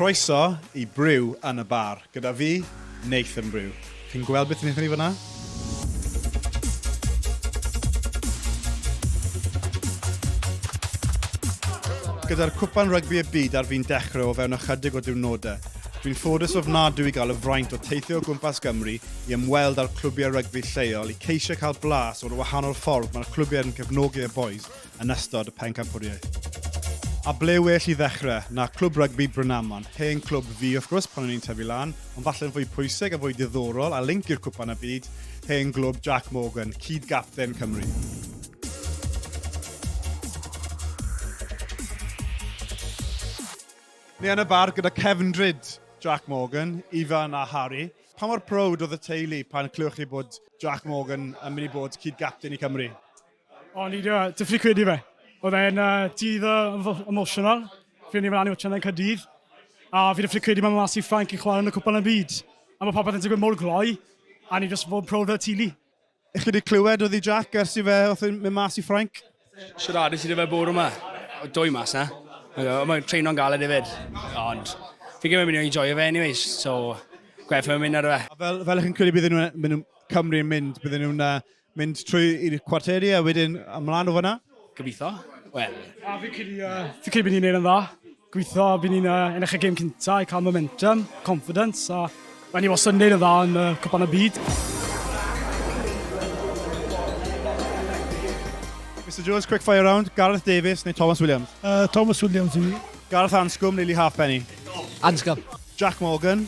Croeso i Brew yn y Bar, gyda fi, Nathan Brew. Chi'n gweld beth wnaethon ni fanna? Gyda'r cwpan rygbi y byd ar fi'n dechrau o fewn ychydig o diwrnodau, dwi'n ffodus ofnadwy i gael y fraint o teithio o gwmpas Gymru i ymweld â'r clwbiau rygbi lleol i ceisio cael blas o'r wahanol ffordd mae'r clwbiau yn cefnogi y boys yn ystod y pencampwriaeth. A ble well i ddechrau na Clwb Rygbi Brynaman, hen clwb fi wrth gwrs pan o'n i'n tyfu lan, ond falle'n fwy pwysig a fwy diddorol a linc i'r Cwpan y Byd, hen glwb Jac Morgan, cyd-gapten Cymru. Ni yn y bar gyda cefndryd Jac Morgan, Ifan a Harry. Pa mor prowd oedd y teulu pan clywch chi bod Jac Morgan yn mynd i bod cyd-gapten i Cymru? O, ni dio, ti'n ffili credu fe. Oedd e'n uh, dydd uh, emotional. Fi o'n i'n mynd i watch yna'n Cadydd. A fi ddim ffili credu mae Masi Ffranc yn chwarae yn y cwpan y byd. A mae popeth yn digwydd mor gloi. A ni jyst fod yn proud o'r tili. Ych chi wedi clywed oedd i Jack ers i fe oedd yn mynd mas i Ffranc? Siaradus i fe bore yma. Dwy mas na. Mae'n treino'n galed hefyd. Ond fi gymryd mynd i enjoy fe anyways. So, gwerth fe mynd ar y fe. Fel, fel ych chi'n credu bydden nhw'n Cymru yn mynd, bydden nhw'n uh, Mynd trwy i'r cwarteri a wedyn ymlaen o fyna? Gobeithio. Wel. A fi'n credu, uh, fi credu bod ni'n neud yn dda. Gobeithio bod ni'n uh, ennill y gêm cyntaf i cael momentum, confidence, a mae ni wastad yn neud yn dda yn uh, cwpan y byd. Mr Jones, quick fire round. Gareth Davies neu Thomas Williams? Uh, Thomas Williams i mi. Gareth Anscombe neu Lee Halfpenny? Anscombe. Jack Morgan,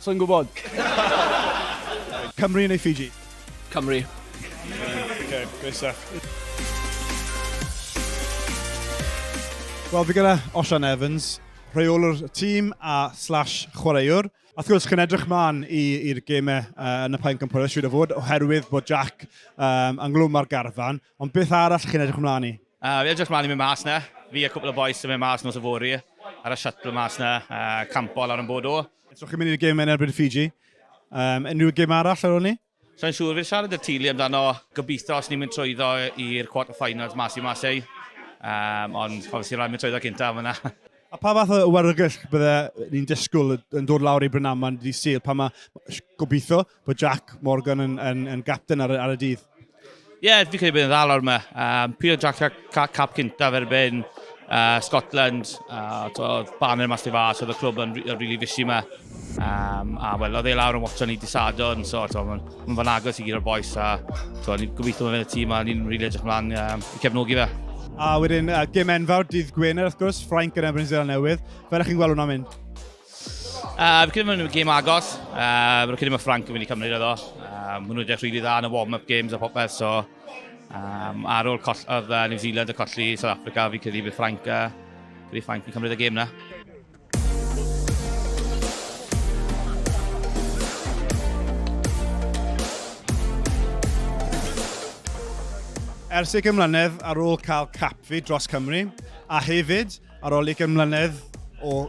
Sa i'n gwybod. Cymru neu Fiji? Cymru. Okay, great stuff. Wel, fi gyda Osian Evans, rheolwr tîm a slash chwaraewr. A wrth gwrs, chi'n edrych mlaen i'r gemau uh, yn y Paen Cympoeth, siwr o fod, oherwydd bod Jack um, ynghlwm ar garfan. Ond beth arall chi'n edrych ymlaen i? Uh, fi edrych ymlaen i mynd mas na. Fi a cwpl o boes yn mynd mas nos y fori ar y shuttle mas na, uh, campo lawr yn bod o. So chi'n mynd i'r gym yn erbyn Fiji. Um, unrhyw gym arall ar ôl ni? So yn siŵr fi'n siarad i'r tîli amdano gobeithio os ni'n mynd trwyddo i'r quarter finals mas i mas ei. Um, ond pan sy'n rhaid mynd trwyddo gyntaf yna. A pa fath o warygell bydde ni'n disgwyl yn dod lawr i Brynaman ddi Sul pan mae gobeithio bod Jack Morgan yn, yn, yn gapten ar, ar y dydd? Ie, yeah, fi credu bod yn dda lawr yma. Um, Pio Jack ca, cap cynta fer ben uh, Scotland, uh, oedd banner mas i fa, so oedd y clwb yn rili fisi yma. Um, a wel, oedd e lawr yn watcho ni disadon, so mae'n ma fan agos i gyda'r boes, a ni'n gobeithio bod fe'n y tîm, a ni'n rili really edrych mlaen um, i cefnogi fe. A wedyn, uh, gym enfawr, dydd Gwener wrth gwrs, Ffrainc yn ebyn Zeland Newydd. Fel ych chi'n gweld hwnna'n mynd? Uh, fi'n credu mae'n gêm agos. Uh, fi'n credu mae Frank yn mynd i cymryd iddo. Uh, maen nhw'n edrych rili really dda yn y warm-up games a popeth, so... Um, ar ôl coll, oedd uh, New Zealand y colli South Africa, fi'n credu bydd Frank, uh, bydd Frank yn cymryd y gêm na. Ers i gymlynedd ar ôl cael capfi dros Cymru, a hefyd ar ôl i gymlynedd o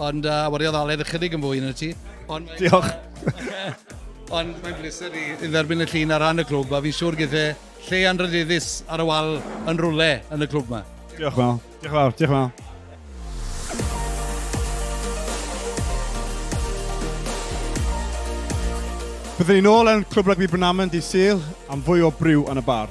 Ond uh, wariodd Aled ychydig yn fwy yn y ti. Ond Diolch. Ond mae'n bleser i dderbyn y llun ar ran y clwb, a fi'n siŵr gyda e lle anrhydeddus ar y wal yn rwle yn y clwb yma. Diolch fel. Diolch fel. Diolch fel. Byddwn ni'n ôl yn Clwb Rygbi Brynaman di Sil am fwy o briw yn y bar.